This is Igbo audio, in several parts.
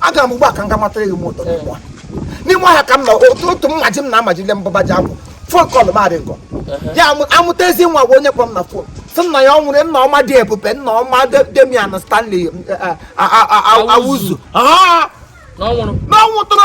aga m ugbu a ka m ga matara gị moto n'ime ọhịa n'ime ọhịa ka m nọ otu otu mmaji m na-amajile mbụba ji akwụ fon kọl m aring o ya amụta ezi nwa bụ onye kpọ m na fon sị nna ya ọ nwụrụ nna ọma dị ebube nna ọma demian stanley awuzu n'ọnwụ tụrụ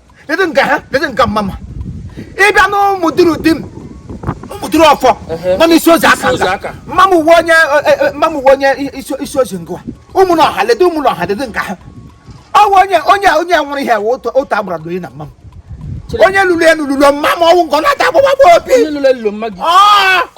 lady nke ha lady nke mama ịbịa na ụmụdurudim ụmụduru ọfọ nọ n'isi ozi aka mama m wụ onye e, e, mama m wụ onye isi ozi ngwa ụmụnọha lady ụmụnọha lady nke ha ọ wụ onye onye onye nwụrụ ihe otu agbara doyi na mama m onye lụrụ elu lụrụ mama m ọ wụ nke ọ na-ata agbụgbagba obi onye lụrụ elu mma gị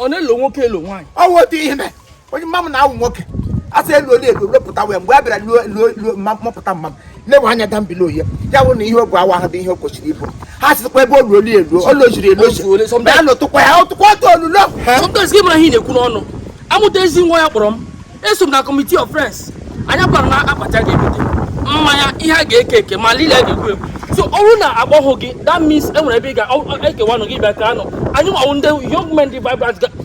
ọ na-elo nwoke elu nwaanyị ọ wụ otu ihe mee onye mama m na-awụ nwoke asị elu ole elu lopụta wee mgbe a bịara luo mmapụta mama m na-enwe anya da mbili oye ya bụ na ihe obu awa ahụ bụ ihe o kwesịrị ịbụ ha sịkwa ebe olu oli elu olu ojiri elu oji bịa lụtụkwa ya ọtụkwa ọtụ olulo sometimes gị mara ihe na-ekwu n'ọnụ amụta ezi nwa ya kpọrọ m eso m na committee of friends anyị kwara na akpati ga-ebute mmanya ihe a ga-eke eke ma lile ga-egwu egwu so ọ bụrụ na agbọghọ gị that means enwere ebe ị ga-ekewanụ gị bịa ka anụ anyị nwawo ndị young men dị vibrant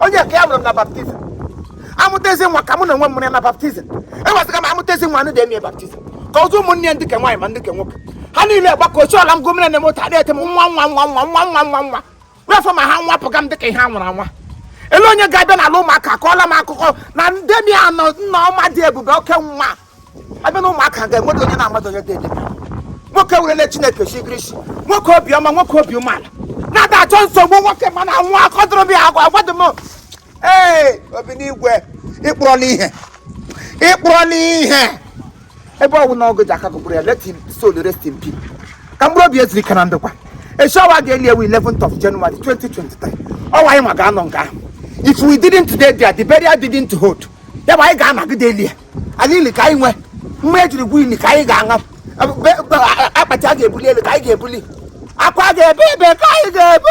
onye ka ya mụrụ m na baptizim amụta ezi nwa ka mụ na onwe m mụrụ ya na baptizim ewezụga m amụta ezi nwa anụ dị eme baptizim ka ọzọ ụmụnne ya ndị ke nwaanyị ma ndị ke nwoke ha niile gbakọchi ọla m gomina na moto adịghị ete m nwa nwa nwa nwa nwa nwa nwa nwa wefọ ma ha nwapụga m dịka ihe a nwụrụ anwa ele onye ga-abịa n'ala ụmụaka akọọla m akụkọ na demian o nna ọma dị ebube oke nwa abịa na ụmụaka ga-enwere onye na-amadụ onye dị nwoke werele chineke chigiri isi nwoke obiọma nwoke obi umeala na-ada achọ nsogbu nwoke mana anwụ akọ dụrụ m ya agwa agwadị m ee obi n'igwe ịkpụrọla ihe ịkpụrọla ihe ebe ọ wụ na ọ gị ji aka gị gburu ya let him soul rest in peace ka mkpụrụ obi ya zuru ike na ndokwa echi ọwa ga-eli ya wụ 11th of January 2023 ọ wụ anyị ma ga-anọ nga ahụ if we didn't to dey there the burial didn't hold ya bụ anyị ga-anọgide eli ya ala ili ka anyị nwe mma ejiri gwu ili ka anyị ga-aṅa akpati a ga-ebuli elu ka anyị ga-ebuli akwa a ga-ebe ebe ka anyị ga-ebe